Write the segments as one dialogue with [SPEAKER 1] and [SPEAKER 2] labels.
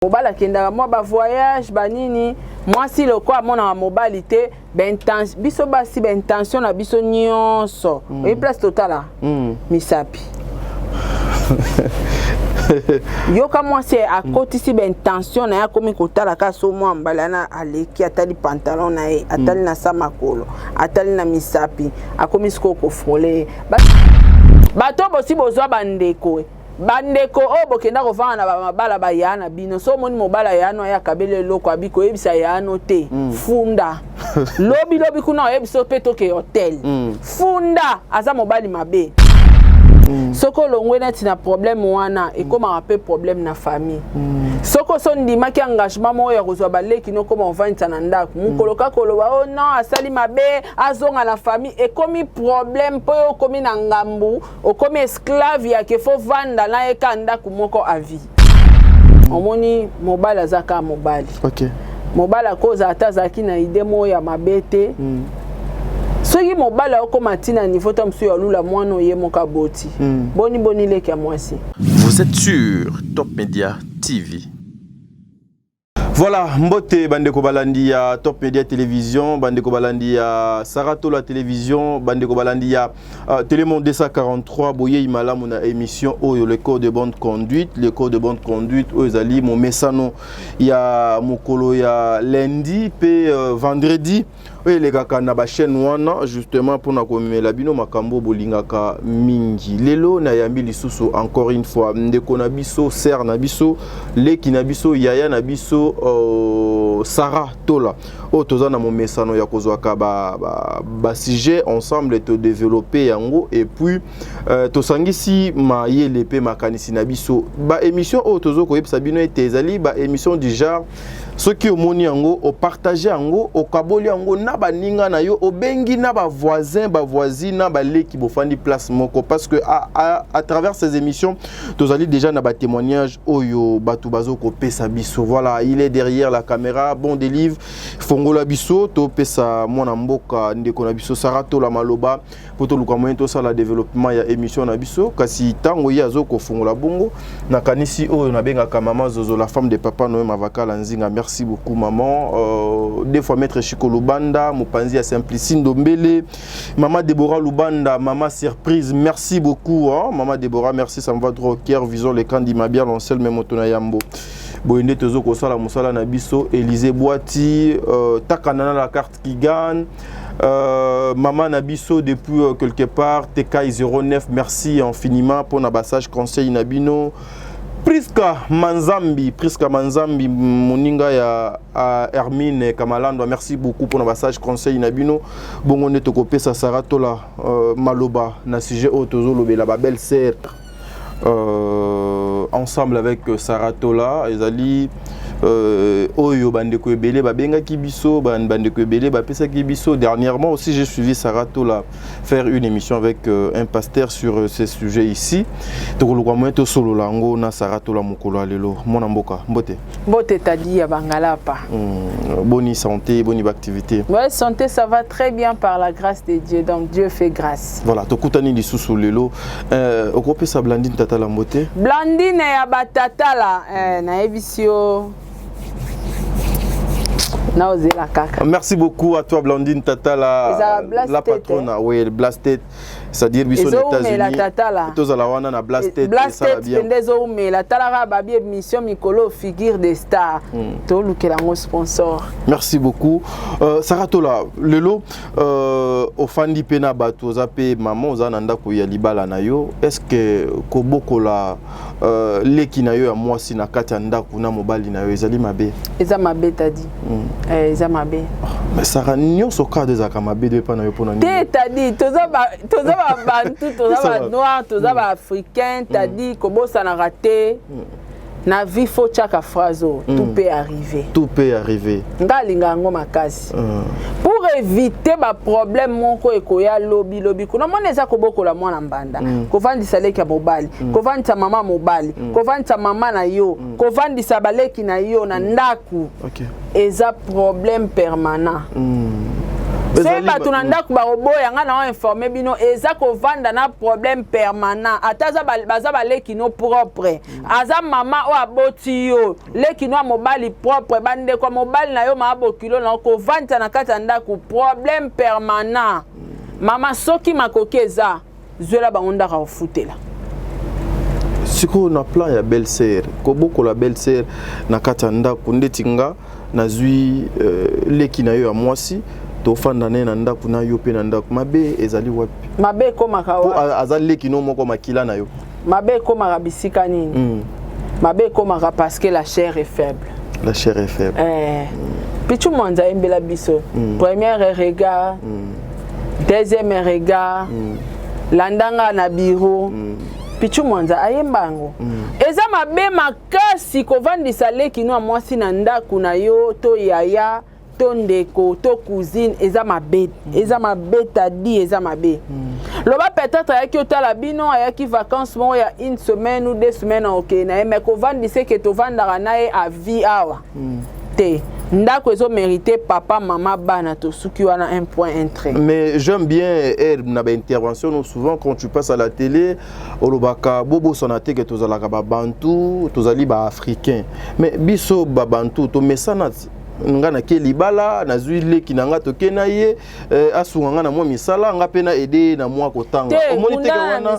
[SPEAKER 1] mobali akendaka mwa ba voyage ba nini mwasi loko amonaka mobali te biso basi baintention na biso nyonso mm. oyi place totala mm. misapi yoka mwasi akotisi baintention na ye akomi kotala kaka so mwa mbala na aleki atali pantalon na ye atali mm. na sa makolo atali na misapi akomi sikoyo kofrole bato bosi bozwa bandeko bandeko oyo bokenda kovanda na bamabala bayaa na bino so omoni mobala yaano aya kabela eloko abi koyebisa yaano te mm. funda lobi lobi kuna oyebisa mpe toke hotel mm. funda aza mobali mabe mm. soki olongwe neti na problème wana ekomaka mpe problème na famille mm. soki oso ondimaki engagement moko ya kozwa baleki nokoma ovandisa na ndako mokolo mm. kaka oloba o oh non asali mabe azonga na famille ekomi problème mpo yo okomi na ngambu okomi esclave ya ke fo vanda na ye ka ndako moko à vie omoni mobali aza kaka mobali okay.
[SPEAKER 2] mobali akoza
[SPEAKER 1] ata azalaki na ide moko ya mabe te mm. soki mobali akokoma ti na niveau ta mosusu ya lula mwana oye moko aboti mm. boni boni leki ya mwasi vous êtes
[SPEAKER 3] sur top media tv
[SPEAKER 2] Voilà, mbote bandeko balandi ya Top Media Télévision, bandeko balandi ya Saratola Télévision, bandeko balandi ya uh, Télémon 243 boye imalamu na émission oyo le code de bonne conduite, le code de bonne conduite oyo ezali momesano ya mokolo ya lundi pe uh, vendredi oyo elekaka na bachaîne wana justement mpona komemela bino makambo bolingaka mingi lelo nayambi lisusu encore une fois ndeko na biso sere na biso leki na biso yaya na biso uh, sara tola oyo toza na momesano ya kozwaka basujet ba, ba ensemble todeveloppe yango epuis uh, tosangisi mayele mpe makanisi na biso baémission oyo tozo koyebisa bino ete ezali baémission du genre soki omoni yango opartage yango okaboli yango na baninga na yo obengi na bavoisin bavoisine na baleki bofandi place moko parce que à, à, à travers ces émissions tozali déjà na batémoignage oyo bato bazo kopesa biso voilà il est derrière la caméra bon délivre fongola biso topesa mwana mboka ndeko na biso saratola maloba mpo toluka moyen tosala développement ya émission na biso kasi ntango ye azo kofungola bongo nakanisi oyo nabengaka mama zozo la femme de papa noye mavakala nzinga merci beaucoup maman euh, deux fois maître chiko lubanda mopanzi ya simplici ndombele mama debora lubanda mama surprise merci beaucoup hein? mama debora merci ça me va trop kier vison le kandi mabia lonsel me moto na yambo boye nde tozo kosala mosala na biso élise bwati euh, takana na la carte Kigan, euh, maman Nabiso depuis euh, quelque part, TK09, merci infiniment pour na passage conseil Nabino. Prisca Manzambi, Prisca Manzambi, moninga ya uh, Hermine Kamalandwa, merci beaucoup pour na passage conseil Nabino. Bongo ne tokopesa Sarah Tola euh, Maloba na sujet oyo tozolobela ba belle sœur. euh, ensemble avec Sarah Tola ezali euh, oyo bandeko ebele babengaki biso bandeko ebele bapesaki biso dernièrement aussi j'ai suivi Sarah Tola faire une émission avec euh, un pasteur sur euh, ces sujets ici tokoluka moyen tosolola yango na Sarah Tola mokolo ya lelo mwana mboka mbote Mbote tadi ya
[SPEAKER 1] Bangalapa. Mm, boni
[SPEAKER 2] santé, boni activité. Ouais, santé ça va
[SPEAKER 1] très bien par la grâce de Dieu. Donc Dieu fait grâce. Voilà, tokutani lisusu
[SPEAKER 2] lelo. Euh, okopesa Blandine tata la mbote. Blandine ya ba
[SPEAKER 1] tata la eh, na ebisio.
[SPEAKER 2] Merci beaucoup à toi Blandine Tata la, la patronne, oui, Blastet c'est-à-dire biso na États-Unis tozala wana na blast tête blast tête pende ezo
[SPEAKER 1] umela talaka ba bi émission mikolo figure des stars hmm. to lukela ngo sponsor merci beaucoup
[SPEAKER 2] euh, Sarah Tola lelo euh, ofandi pe na bato oza pe maman oza na ndako ya libala na yo est-ce que kobokola Euh, leki na yo ya mwasi na kati ya ndako na mobali na yo ezali mabe eza mabe tadi
[SPEAKER 1] mm. eh, eza mabe ah, saka
[SPEAKER 2] nyonso kado ezalaka mabe do epai na yo mpona nini te tadi
[SPEAKER 1] toza babantu toza banoir toza mm. baafricain mm. tadi mm. kobosanaka te mm. na vie fo tyaka phrase oyo mm. tout peut arriver tout peut arriver
[SPEAKER 2] nga alinga yango
[SPEAKER 1] makasi pour éviter ba problème moko ekoya lobi lobi kuna mwana eza kobokola mwana mbanda mm. kovandisa leki ya mobali mm. kovandisa mama mobali mm. kovandisa mama na yo mm. kovandisa baleki na yo na mm. ndako okay. eza problème permanent mm. soki bato na ndako bakoboya ngai na oinforme bino eza kovanda na problème permanent ata baza baleki no propre mm. aza mama oyo aboti yo leki no ya mobali propre bandeko ya mobali na yo maa bokilo na yo kovandisa na kati ya ndako problème permanent mama soki makoki eza zwela bango ndako akofutela
[SPEAKER 2] sikoyo na plan ya belle sœur kobokola belle sœur na kati ya ndako ndeti nga nazwi euh, leki na yo ya mwasi tofanda naye na ndako na yo mpe na ndako mabe ezali wapi mabe ekomaka wapi
[SPEAKER 1] aza leki no moko
[SPEAKER 2] makila na yo mabe ekomaka
[SPEAKER 1] bisika nini mm. mabe ekomaka parce que la chair est faible la chair est faible
[SPEAKER 2] eh. mm. pichu
[SPEAKER 1] mwanza ayembela biso mm. première regard mm. deuxième regard mm. landanga na biro mm. pichu mwanza ayemba yango mm. eza mabe makasi kovandisa leki no ya mwasi na ndako na yo to yaya to ndeko to cousine eza mabe mm. eza mabe tadi eza mabe mm. loba peut-être ayaki otala bino ayaki vacances moko ya une semaine ou deux semaines okei na ye mais kovandise ke tovandaka na ye a vie awa mm. te ndako ezo mérité papa mama bana tosuki wana un point un trait mais j'aime bien air
[SPEAKER 2] na baintervention no souvent quand tu passes à la télé olobaka bobosana te ke tozalaka babantu tozali baafricain mais biso babantu tomesana nga nake libala nazwi leki na nga toke na ye eh, asunga nga na mwa misala nga mpe na ede ye na mwa kotanga omoni teke wana,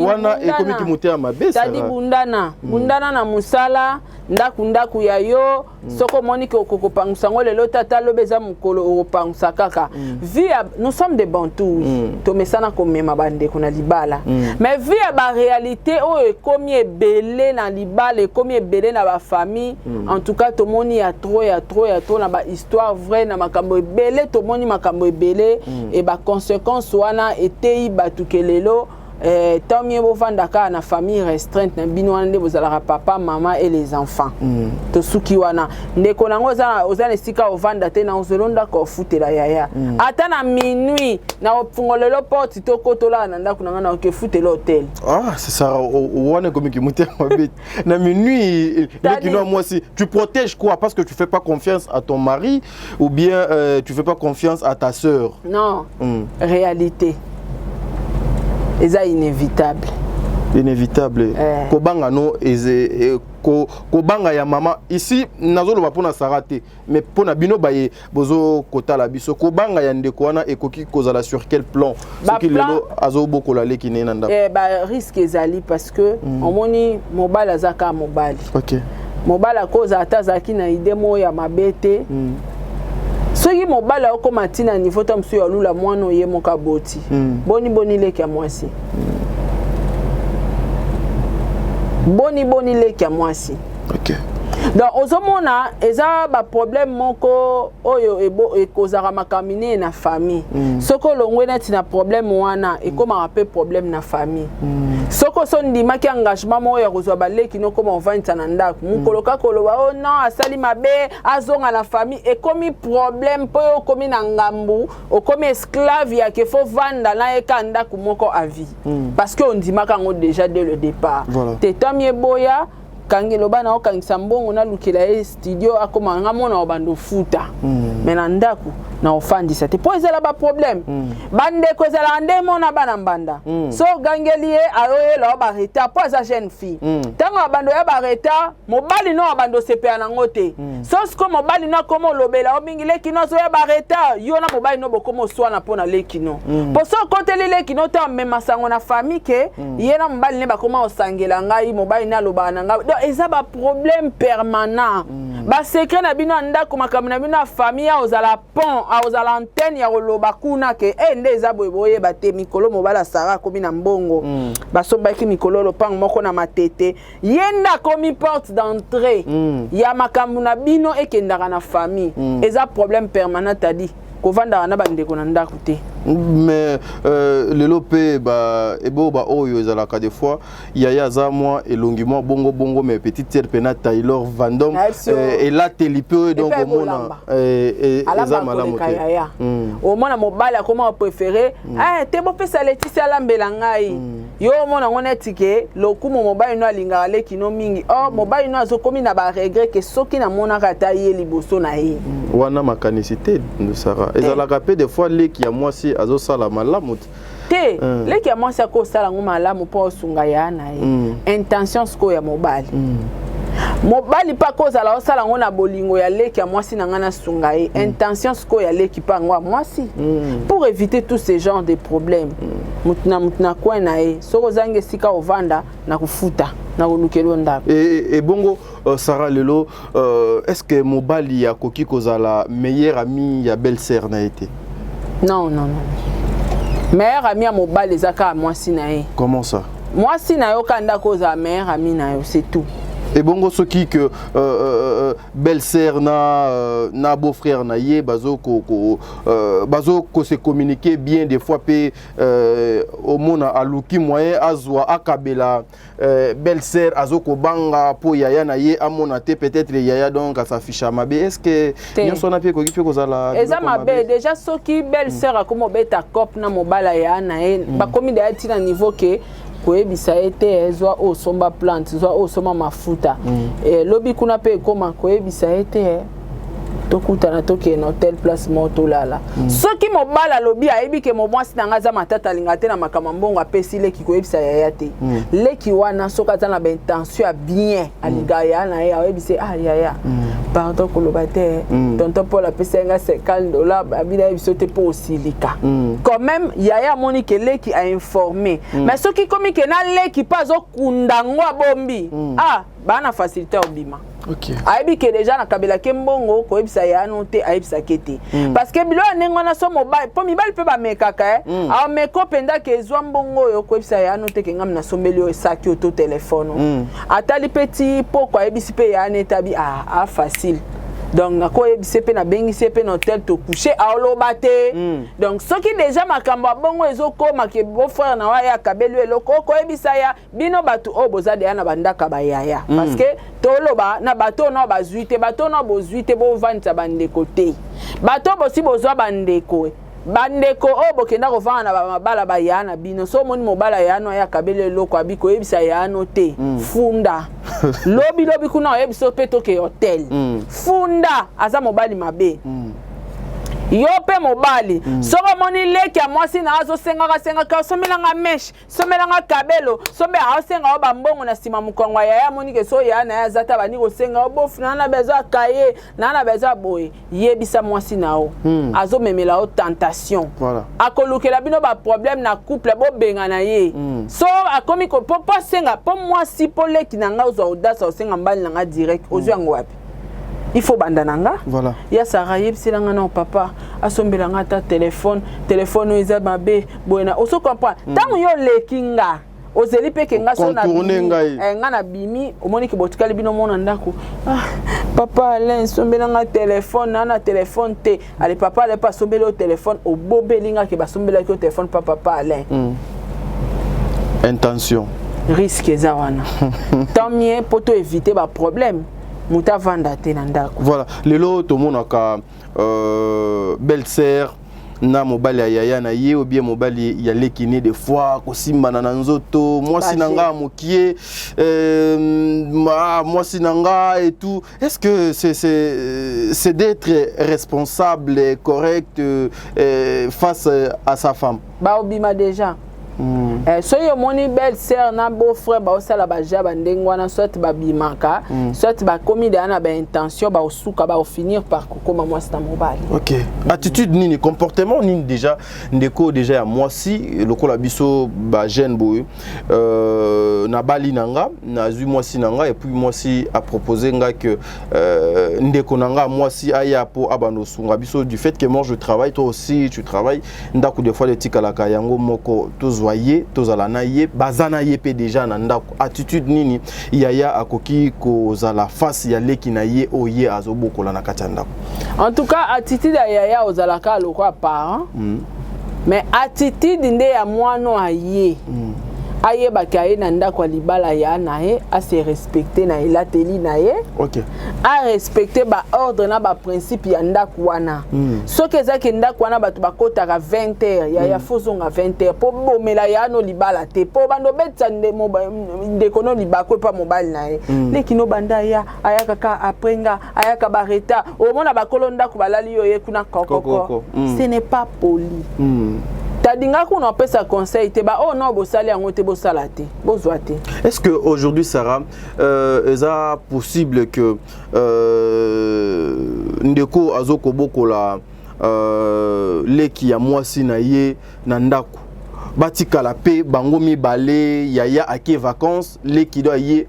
[SPEAKER 2] wana ekomi kimotema mabe tadi bundana
[SPEAKER 1] mm. bundana na mosala ndako ndako ya yo mm. soki omoni ke okokopangusa yango lelo tata lobi eza mokolo okopangusa kaka mm. vie ya nous sommes des bantous mm. tomesana komema bandeko na libala mm. mais vie ya baréalité oyo ekomi ebele na libala ekomi ebele na bafamille Mm. en tout cas tomoni ya trop ya trop ya trop na bahistoire vrai na makambo ebele tomoni makambo ebele mm. e baconséquence wana eteyi bato ke lelo eh, tant mieux bovanda kaka na famille restreinte na bino wana nde bozalaka papa mama et les enfants mm. tosuki wana ndeko nango oza na esika ovanda te na ozolo ndako ofutela yaya mm. ata na minuit na ofungolelo porte tokotolaka na ndako na ngai na okefutela hotel ah, c'est ça
[SPEAKER 2] wana ekomi kimotema bete na minuit lekinoa mwasi tu protège quoi parce que tu fais pas confiance à ton mari ou bien euh, tu fais pas confiance à ta sœur non mm.
[SPEAKER 1] réalité eza inévitable inévitable eh.
[SPEAKER 2] kobanga no eze eh, ko, kobanga ya mama ici nazoloba mpo na sara te mais mpo na bino baye bozo kotala biso kobanga ya ndeko wana ekoki kozala sur quel plan soki lelo azobokola leki ne na ndako eh, bariske ezali
[SPEAKER 1] parce que mm. omoni mobali aza kaka mobali okay. mobali
[SPEAKER 2] akoza
[SPEAKER 1] ata azalaki na ide moko ya mabe te mm. soki mobali akokoma ntina niveau ta mosusu ya lula mwana oye moko aboti mm. boni boni leki ya mwasi mm. boni boni leki ya mwasi okay.
[SPEAKER 2] donc
[SPEAKER 1] ozomona eza baproblème moko oyo ekozaka makambo minene na famille mm. soki olongwe neti na problème wana ekomaka mpe problème na famille mm. soki oso ndimaki engagement moko ya kozwa baleki nokoma ovandisa na ndako mm. mokolo kaka oloba o oh non asali mabe azonga na famille ekomi problème mpo yo okomi na ngambu okomi esclave ya ke fo vanda na ye ka ndako moko avis mm. parce que ondimaka yango déjà dès le départ voilà. tetami eboya kange loba na okangisa mbongo nalukela ye studio akoma nga mwana wa bando futa mm. me na ndako na ofandisa te mpo ezala baproblème mm. bandeko ezalaka nde mona bana mbanda mm. so ogangeli ye ayoyela yo baretard mpo aza jeune fille ntango mm. abando ya baretard mobali no abando osepela nango te mm. so siko mobali no akoma olobela yo mingi leki no azoya baretard yo na mobali no bokoma oswana mpo na leki no mpo mm. so okoteli leki no te amema sango na famille ke Mm. ye na mobali ne bakoma kosangela ngai mobali ne alobaka na ngai donc eza baproblème permanent mm. basekret na bino ya ndako makambo na bino ya famille akozala pont akozala antenne ya koloba kuna ke e nde eza boye boyeba te mikolo mobali asara akomi na mbongo mm. basombaki mikolo lopango moko na matete ye nde akomi porte d'entrée mm. ya makambo na bino ekendaka na famille mm. eza problème permanent adi kovandaka na bandeko na ndako te mais euh,
[SPEAKER 2] lelo mpe eboba oyo ezalaka des fois yaya aza mwa elongi mwa bongo bongo mais petite sere mpe na taylor vandom euh, elateli mpe oyo donc omona euh, euh, eza malamu te hmm. omona mobali
[SPEAKER 1] akoma préféré hmm. eh, te bopesa letisi alambela ngai hmm. yo omona ngo neti ke lokumu mobali no alingaka leki no mingi or oh, mobali no azokomi na baregret ke soki namonaka ata ye liboso na ye wana
[SPEAKER 2] makanisi te ndosara eh. ezalaka mpe de fois leki ya mwasi azosala malamu te te eh.
[SPEAKER 1] leki ya mwasi akosala yango malamu mpo osunga ya na ye hmm. intention sikoyo ya mobali hmm. mobali mpe akozala osala yango na bolingo ya leki ya mwasi na ngai nasunga ye hmm. intention sikoyo ya leki mpe yango ya mwasi pour éviter tous ces genres de problèmes moto na moto na coin na ye soki ozangi esika ovanda na kofuta na kolukela yo ndako ebongo
[SPEAKER 2] e, e sara lelo uh, est ce que mobali akoki kozala meilleur ami ya belle sœur na ye te non non
[SPEAKER 1] non meilleur ami ya mobali eza kaka mwasi na ye comment ça mwasi
[SPEAKER 2] na yo kaka
[SPEAKER 1] ndako ozala meilleur ami na yo c'est tout ebongo soki
[SPEAKER 2] que euh, euh, euh, belle sœur na, euh, na beau frère na ye bazo ko, ko, Euh, bazo ko se communiquer bien des fois pe euh, omona aluki moyen azwa akabela euh, belle sœur azo ko banga po yaya na ye amona te peut-être yaya donc asaficha mabe est-ce que nyonso na pe koki pe kozala eza mabe déjà
[SPEAKER 1] soki belle sœur mm. akomi obeta cop na mobala ya na ye mm. bakomi da ti na niveau que koyebisa ye te eh, zwa oyo osomba plante zwa oyo osomba mafuta mm. eh, lobi kuna mpe ekoma koyebisa ye te eh, tokutana tokende na hotel place moko tolala mm. soki mobali alobi ayebi ke momwasi na ngai aza matata alinga te na makambo mbongo apesi leki koyebisa yaya te mm. leki wana soki aza na baintention ya bien alinga mm. ya na ye ayebisi ah yaya mm. pardon koloba te mm. tonton paul apesa ye nga 50 dollar abina ye biso te mpo osilika quand même yaya amoni ke leki ainforme mais soki komi ke na leki mpe azokunda yango abombi ah baa na facilité obima Okay. ayebi ke
[SPEAKER 2] deja
[SPEAKER 1] nakabelaki mbongo koyebisa yano te ayebisaki te mm. parce que bilo ya ndenge wana so mobali mpo mibali mpe bamekaka eh? mm. ameko mpenza ke ezwa mbongo oyo koyebisa yano te kengami nasombeli oyo esaki oyo to telefone mm. atali mpe ti poko ayebisi mpe ya netabi a ah, a ah, facile donc nakoyebisa ye mpe nabengisi ye mpe na hotel tokouche aoloba te mm. donc soki deja makambo ya bongo ezokoma ke bofrere na wa ye akabeli yo eloko okoyebisa ya bino bato oyo boza deya na bandaka bayaya mm. parce que toloba na bato oyo nao bazwi te bato oyo nao bozwi te bovandisa bandeko te bato oyo bosi bozwa bandeko bandeko oyo bokenda kovanda na bamabala bayaa na bino so omoni mobala yaano aya kabela eloko abi koyebisa yaano te mm. funda lobi lobi kuna oyebisa yo mpe toke hotel mm. funda aza mobali mabe mm. yo mpe mobali mm. soki omoni leki ya mwasi na azosengaka sengaka osomelanga meshe somela nga kabelo sombe aosenga yo bambongo na nsima mokongo ya yaya amoni ke so yaya na ye aza ta bandi kosenga yo bofu naa na bezo ya kaye naa na bezo ya boye yebisa mwasi na yo hmm. azomemela yo tentation voilà. akolukela
[SPEAKER 2] bino
[SPEAKER 1] baproblème na couple bobengana ye hmm. so akomi mpo asenga mpo mwasi mpo leki na ngai ozwa odasa osenga mbali na ngai direct ozwi hmm. yango wapi il faut banda na nga voilà. ya sara
[SPEAKER 2] yebisela
[SPEAKER 1] nga nao papa asombela nga ata telefone telefone oyo eza mabe boye na oso comprendre ntango mm. yo oleki nga ozeli mpe ke nga so eh, nga na bimi omoni ke botikali bino mona ndako ah, papa alain sombela nga telefone naa na telefone te ale papa ale pa sombeli yo telefone obobeli nga ke basombelaki yo telefone pa papa alain mm.
[SPEAKER 2] intention risque eza
[SPEAKER 1] wana tant mieux mpo to éviter baproblème moto avanda te na ndako voilà lelo
[SPEAKER 2] tomonaka euh, belle sœur na mobali ya yaya na ye obie mobali ya leki ne de fois kosimbana na nzoto mwasi na nga mokie euh, mwasi na nga etout Est-ce que c'est est, d'être responsable et correct euh, face à sa femme Bah, obima déjà.
[SPEAKER 1] Mm. Eh, soki omoni belle sœur na beau frère baosala baja bandenge wana soit babimaka mm. soit bakomi deya na baintention baosuka baofinir par kokoma mwasi na mobali ok attitude
[SPEAKER 2] nini comportement nini déjà ndeko déjà ya mwasi lokola biso bajeune boye euh, nabali na nga nazwi mwasi na nga epuis mwasi apropose nga ke euh, ndeko na nga mwasi aya mpo abanda osunga biso du fait que moi je travaille toi aussi tu travaille ndako des fois etikalaka yango moko tozwa ye tozala na ye baza na ye mpe deja na ndako attitude nini yaya akoki kozala face ya leki na ye oyo ye azobokola na kati ya ndako en tout cas
[SPEAKER 1] attitude ya yaya ozalaka lokola parent mm. mais attitude nde ya mwana aye mm. ayebaki aye na ndako ya libala ya na ye ase respecte na elateli na ye okay.
[SPEAKER 2] arespecte
[SPEAKER 1] baordre na baprincipe ya ndako wana mm. soki ezalaki ndako wana bato bakotaka 20 heure ya mm. ya hmm. fozonga 20 heure mpo bomela yano libala te mpo bando obetisa ndeko no libako epa mobali na ye mm. leki no banda aya ayaka ka apres nga ayaka ba retard omona bakolo ndako balali yo ye kuna kokoko mm. ce n'est pas poli mm. tadinga kuna opesa conseil te baoyo oh, nao bosali yango te bosala te bozwa te est ce que aujourd'hui
[SPEAKER 2] sarah euh, eza possible que euh, ndeko azokobokola euh, leki ya mwasi na ye na ndako batikala mpe bango mibale yaya ake vacance leki do aye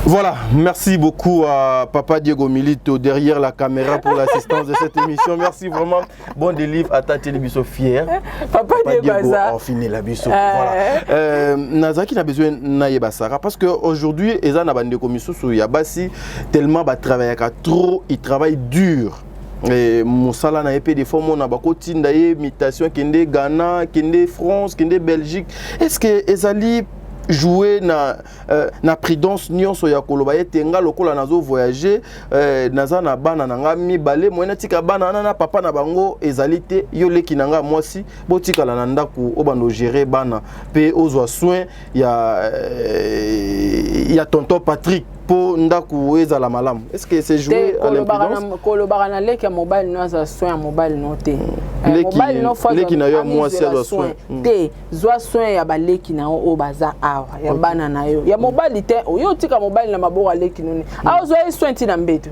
[SPEAKER 2] Voilà, merci beaucoup à Papa Diego Milito derrière la caméra pour l'assistance de cette émission. Merci vraiment. Bon délivre à Tati Libiso fier. Papa, Papa Diego,
[SPEAKER 1] Diego on finit la biso.
[SPEAKER 2] Euh... Voilà. Euh, Nazaki n'a besoin naye basara parce que aujourd'hui eza na bande komisusu ya basi tellement ba travaillaka trop, ils travaillent dur. Eh, mosala na ye mpe des fois omona bakotinda ye mutation kende ghana kende france kende belgique est ce que ezali jouer na, euh, na prudence nyonso ya koloba ete nga lokola nazo voyager euh, naza na bana na nga mibale moyena tika bana wana na papa na bango ezali te yo leki na nga mwasi botikala na ndako obanda ogere bana mpe ozwa soin ya, euh, ya tonton patrick mpo ndako ezala malamu est ce que c'est joué à l'imprudence kolobaka na leki ya
[SPEAKER 1] mobali no aza soin ya mobali no te mm. eh,
[SPEAKER 2] leki na yo ya mwasi azwa soin mm. te zwa
[SPEAKER 1] soin ya baleki na yo oyo baza awa ya bana na yo ya mobali te oyo otika mobali na maboko aleki noni hmm. aozwa ye soin ntina mbetu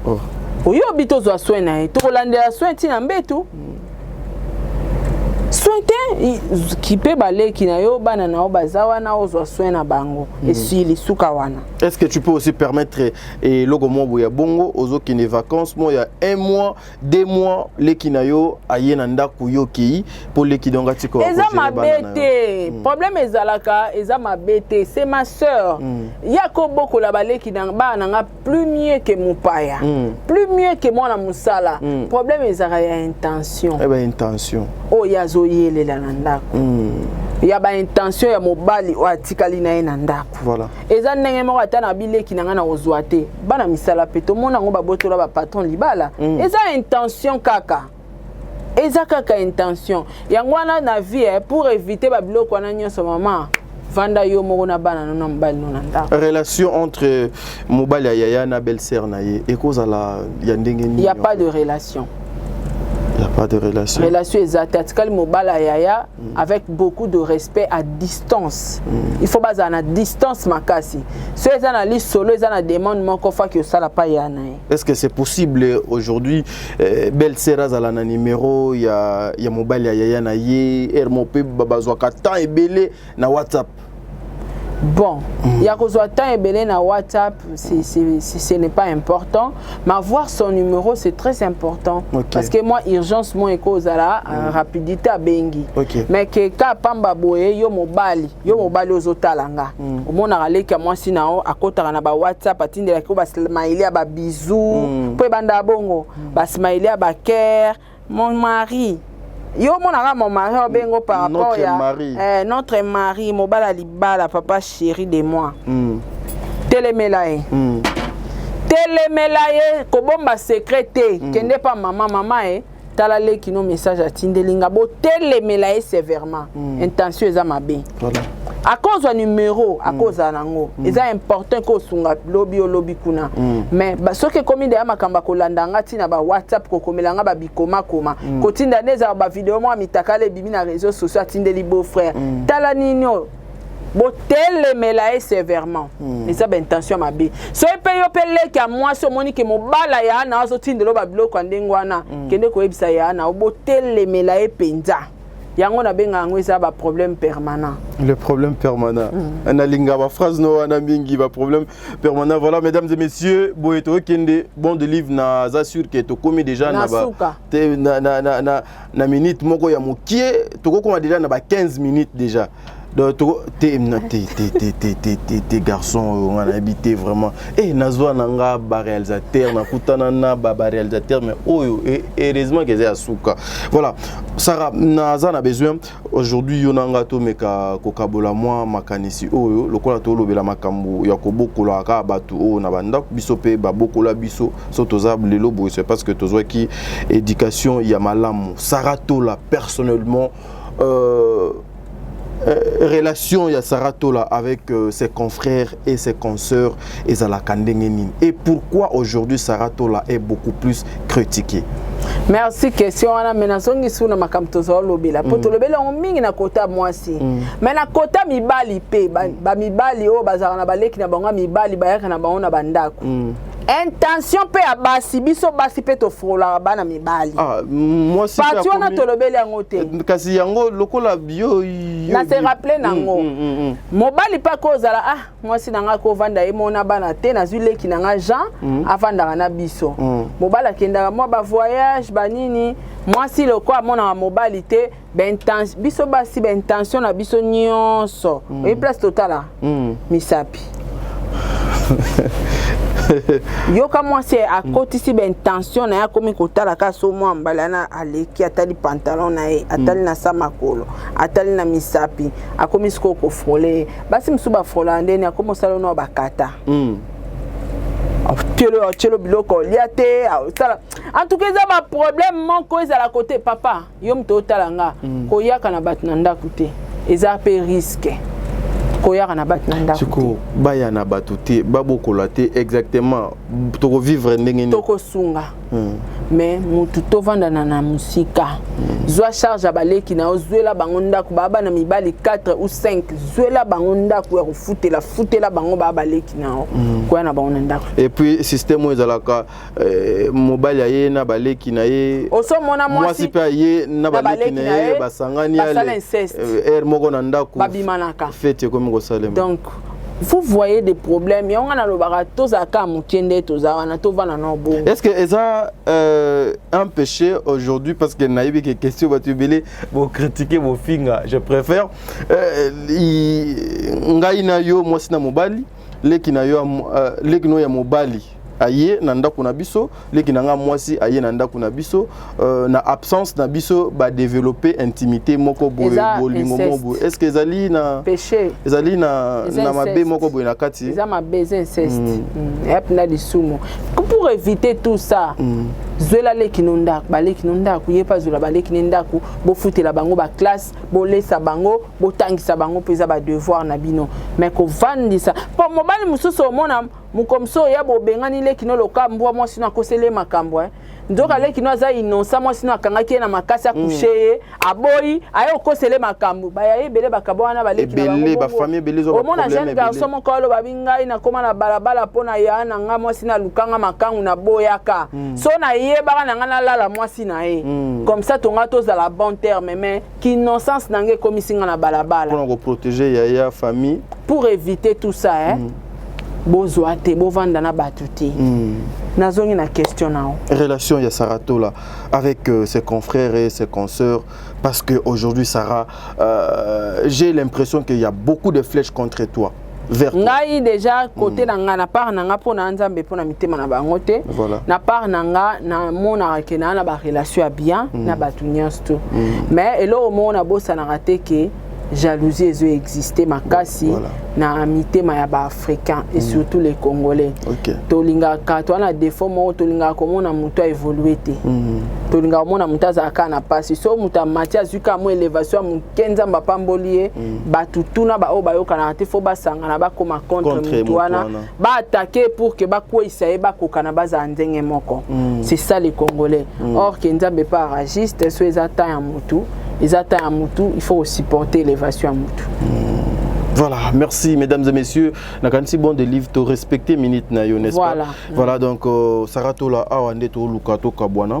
[SPEAKER 1] oh. oyobi tozwa soin na ye tokolandela soin ntina mbetu hmm. soin te kipe baleki na yo bana na yo baza wana ozwa soin na bango hmm. esili suka wana est ce que tu peux aussi
[SPEAKER 2] permettre eloko eh, moko ya bongo ozokende vacances mo ya un mois deux mois leki na yo aye na ndako yo okei mpo leki donc atika eza mabe te
[SPEAKER 1] mm. problème ezalaka eza mabe te c'est ma sœur mm. ya kobokola baleki bana na nga plus mieux que mopaya mm. plus mieux que mwana mosala mm. problème ezalaka ya intention eh ben, intention
[SPEAKER 2] oyo oh, azoyelela
[SPEAKER 1] na ndako mm. ya baintention ya mobali oyo atikali na ye na ndako voilà. eza ndenge
[SPEAKER 2] moko ata
[SPEAKER 1] na bileki na ngai na kozwa te bana misala mpe tomona yango babotola bapatron libala mm. eza intention kaka eza kaka intention yango wana na vie eh, pour éviter babiloko wana nyonso mama vanda yo moko na bana no na mobali no na ndako relation entre
[SPEAKER 2] mobali ya yaya na belle sœur na ye ekozala ya ndenge nini ya pas de relation
[SPEAKER 1] ya
[SPEAKER 2] pas de relation relation eza te atikali
[SPEAKER 1] mobali ya yaya Mm. avec beaucoup de respect à distance mm. il faut bazala na distance makasi so eza na lisolo eza na demande moko faki osala pa ya na ye est ce que c'est possible
[SPEAKER 2] aujourd'hui eh, belle sœur azala na numéro ya, ya mobali ya yaya na ye heure mo mpe bazwaka temps ebele na whatsapp
[SPEAKER 1] bon mm. ya kozwa temps ebele na whatsapp ce n'est pas important mais avoir son numéro c'est très important okay. parce que moi urgence mo ekozala mm. rapidité abengi okay. mais ke ka pamba boye yo mobali yo mobali ozotala nga mm. omonaka leki ya mwasi na yo akotaka na bawhatsapp atindelaki yo basmaile ya babizou mm. mpo ebanda bongo mm. basmaile ya bakere Mon mari. Yo monaka mon mari obengo par rapport notre ya mari. Eh, notre mari mobala libala papa chéri de moi. Mm. Telemela ye. Mm. Telemela ye kobomba secret te. Mm. Kende pa mama mama e. Eh. tala leki no message atindeli nga botelemela ye sévèrement mm. intention eza mabe akozwa numero akozala mm. nango mm. eza important ko osunga lobi olobi kuna mm. mais soki ekomi deya makambo akolanda nga ntina ba whatsapp kokomela nga babikomakoma kotinda nde ezala bavideo mwa mitakala ebimi na réseau sociaux atindeli beau frère tala nini oyo botelemela ye sévèrement hmm. eza baintention mabe soki mpe yo mpe leki ya mwasi omoni ke mobala ya ana azotindelo babiloko ya ndenge wana hmm. kende koyebisa ya ana botelemela ye mpenza yango nabenga yango eza ba problème permanent le problème
[SPEAKER 2] permanent mm. nalinga ba phrase no wana mingi ba problème permanent voilà mesdames et messieurs boye tokende bon de livre na za sûr que tokomi déjà na ba te, na, na, na, na, na minute moko ya mokie tokokoma déjà na ba 15 minutes déjà donc toko te na te te te te te te te garçon oyo nga nayebi te vraiment e nazwa na nga baréalisateur nakutana na baréalisateur mais oyo e, heureusement keza ya suka voilà sara naza na besoin aujourd'hui yo na nga tomeka kokabola mwa makanisi oyo lokola tolobela makambo ya kobokola kaka bato oyo na bandako biso mpe babokola biso so toza lelo boye c'est parce que tozwaki éducation ya malamu sara tola personnellement Euh, euh, relation ya Sarah Tola avec euh, ses confrères et ses consoeurs ezalaka ndenge nini et pourquoi aujourd'hui Sarah Tola est beaucoup plus critiquée merci
[SPEAKER 1] question wana me nazongisi na makambo tozolobela mpo mm. tolobeli yango mingi na kota mwasi mm. me na kota mibali mpe bamibali oyo bazalaka na baleki na bango ya mibali bayaka na bango na bandako mm. intention mpe ya basi biso basi mpe tofololaka bana mibali ah,
[SPEAKER 2] pati wana tolobeli yango
[SPEAKER 1] te eh, kasi yango
[SPEAKER 2] lokola yo na se rappele
[SPEAKER 1] nango mm, mm, mm, mobali mpe akozala ah mwasi na ngai akovanda ye mona bana te nazwi leki na ngai jean afandaka na biso mobali akendaka mwa bavoyage banini mwasi lokola amonaka mobali te B'intention, biso basi ba intention na biso nyonso mm. oyebi place totala mm. misapi yoka mwasi akotisi mm. baintention na ye akomi kotala ka so mwa mbala yana aleki atali pantalon na ye atali mm. na sa makolo atali na misapi akomi sikoyo kofrole ye basi mosusu bafrolaka ndeni akomi osala ono bakata mm. otyelo biloko olya te osala en tout cas eza baproblème moko ezala kote papa yo moto otala nga mm. koyaka na bato na ndako te eza mpe riske koyaka na bato na ndako baya na
[SPEAKER 2] bato te babokola te exactement tokovivre ndenge nini tokosunga mm.
[SPEAKER 1] mais motu tovandana na mosika mm. zwa charge ya baleki na yo zwela bango ndako baa bana mibali 4 ou 5 zwela bango ndako ya kofutela futela bango baa baleki na yo mm. koya na bango na ndako et puis système oyo
[SPEAKER 2] ezalaka Eh, mobali aye na baleki na ye mwasi
[SPEAKER 1] mpe aye
[SPEAKER 2] na baleki na ye basangani heure eh, moko na ndako fete
[SPEAKER 1] ekomi kosalema
[SPEAKER 2] donc vous
[SPEAKER 1] voyez des problèmes yango ngai nalobaka tozalaka moke nde toza wana tovanda na bongo est ce que eza
[SPEAKER 2] euh, un péché aujourd'hui parce que nayebi ke question bato ebele bocritique bofinga je préfère euh, ngai na yo mwasi na mobali leki na yo uh, leki no ya mobali aye na ndako na biso leki na nga mwasi aye na ndako na biso uh, na absence na biso ba développer intimité moko boye bolingo moko boye est-ce que ezali na péché ezali na
[SPEAKER 1] Eza
[SPEAKER 2] na mabe moko boye na kati eza mabe eza inceste
[SPEAKER 1] mm. mm. yep na lisumu pour éviter tout ça mm. zwela leki no ndako baleki no ndako ye mpe azwela baleki ne ndako bofutela bango baklasse bolesa bango botangisa bango mpo eza badevoir na bino me kovandisa mpo mobali mosusu omona mokomso ya bobengani lekino loka mbwa mwasi no akoseli ye makambo eh. nzoka mm. lekino aza inonsa mwasi no akangaki ye na makasi akushe mm. ye aboyi aye okosele makambo baya ye ebele bakaba wana balekinaomona
[SPEAKER 2] jeune garçon moko
[SPEAKER 1] alobabi ngai nakóma na balabala mpo na ya na ngai mwasi nalukanga makangu naboyaka mm. so nayebaka na ngai nalala mwasi na ye mm. comme ça tonga tozala bon terme mais kinnocence na ngai ekomisi ngai na balabala mpona koprotege yaya
[SPEAKER 2] famille pour éviter
[SPEAKER 1] tout ça eh? mm. bozwa te bovanda na bato te mm. nazongi na question na yo relation ya saratola
[SPEAKER 2] avec euh, ses confrères et ses consoeurs parce que aujourd'hui sarah euh, j'ai l'impression qu'il y a beaucoup de flèches contre toi vers ngai déjà côté
[SPEAKER 1] mm. na nga na part na nga pona nzambe pona mitema na bango te voilà. na part na nga na mona ke na na ba relation ya bien mm. na batu nyonso tout mm. mais eloko moko na bosanaka te ke jalousie ezo exister makasi voilà. na mitema ya ba africain et mm. surtout les congolais okay. tolingaka to na défaut moko tolingaka komona moto a évoluer te mm. tolingaka komona moto azalaka na pasi so moto amati azwi kaka mo élévation ya moke nzambe apamboli ye mm. bato tuna baoyo bayokanaka te fo basangana bakoma contre motu wana baatake pour ke bakweisa ye bakokana bazala ndenge moko mm. c'est ça les congolais mm. or ke nzambe pa aragiste so eza temps ya motu eza temps ya motu il faut osupporter élévation ya motu mm. Voilà,
[SPEAKER 2] merci mesdames et messieurs. Nakanisi bon de livre to respecter minute na yo n'est-ce voilà. pas. Voilà donc euh, Sarah Tola awande to luka to kabwana.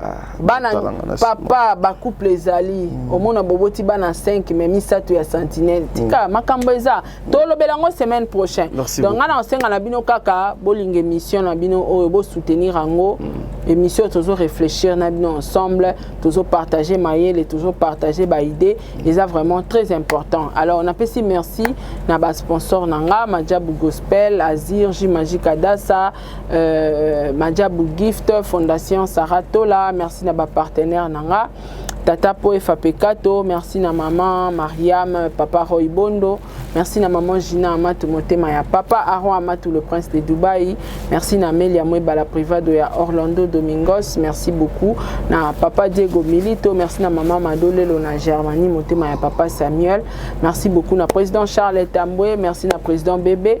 [SPEAKER 1] Ah, bana papa bacouple ezali mm. omona boboti bana 5 me misato ya sentinelle tika mm. makambo eza tolobela yango semaine prochain donc ngai na kosenga na bino kaka bolinga émission na bino oyo bosoutenir yango mm. émission tozo réfléchir na bino ensemble tozo partager mayele tozo partager baidée eza vraiment très important alors napesi merci na basponsor na nga majabu gospel azir j magique adasa euh, Majabu Gift, Fondation Sarah Tola, merci na ba partenaire nanga. Tata Po Fapekato, merci na maman Mariam, papa Roy Bondo, merci na maman Gina Amatou Motema ya papa Aaron Amatou le prince de Dubaï, merci na Melia Mweba la privado ya Orlando Domingos, merci beaucoup na papa Diego Milito, merci na maman Madolelo na Germanie Motema ya papa Samuel, merci beaucoup na président Charles Tamboué, merci na président Bébé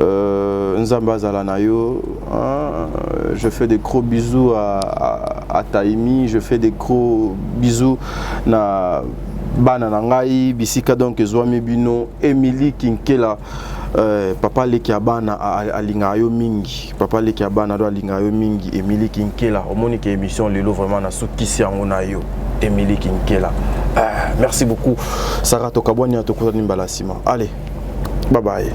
[SPEAKER 2] Euh, Nzamba azala na yo. Hein, je fais des gros bisous à, à, à Taimi, je fais des gros bisous na bana na ngai bisika donc ezwami bino Emily Kinkela euh, papa leki ya bana alingaka yo mingi papa leki ya bana do alingaka yo mingi Emily Kinkela omoni ke émission lelo vraiment nasukisi yango na yo Emily Kinkela euh, merci beaucoup Sarah Tokabwania tokutani mbala nsima allez bye bye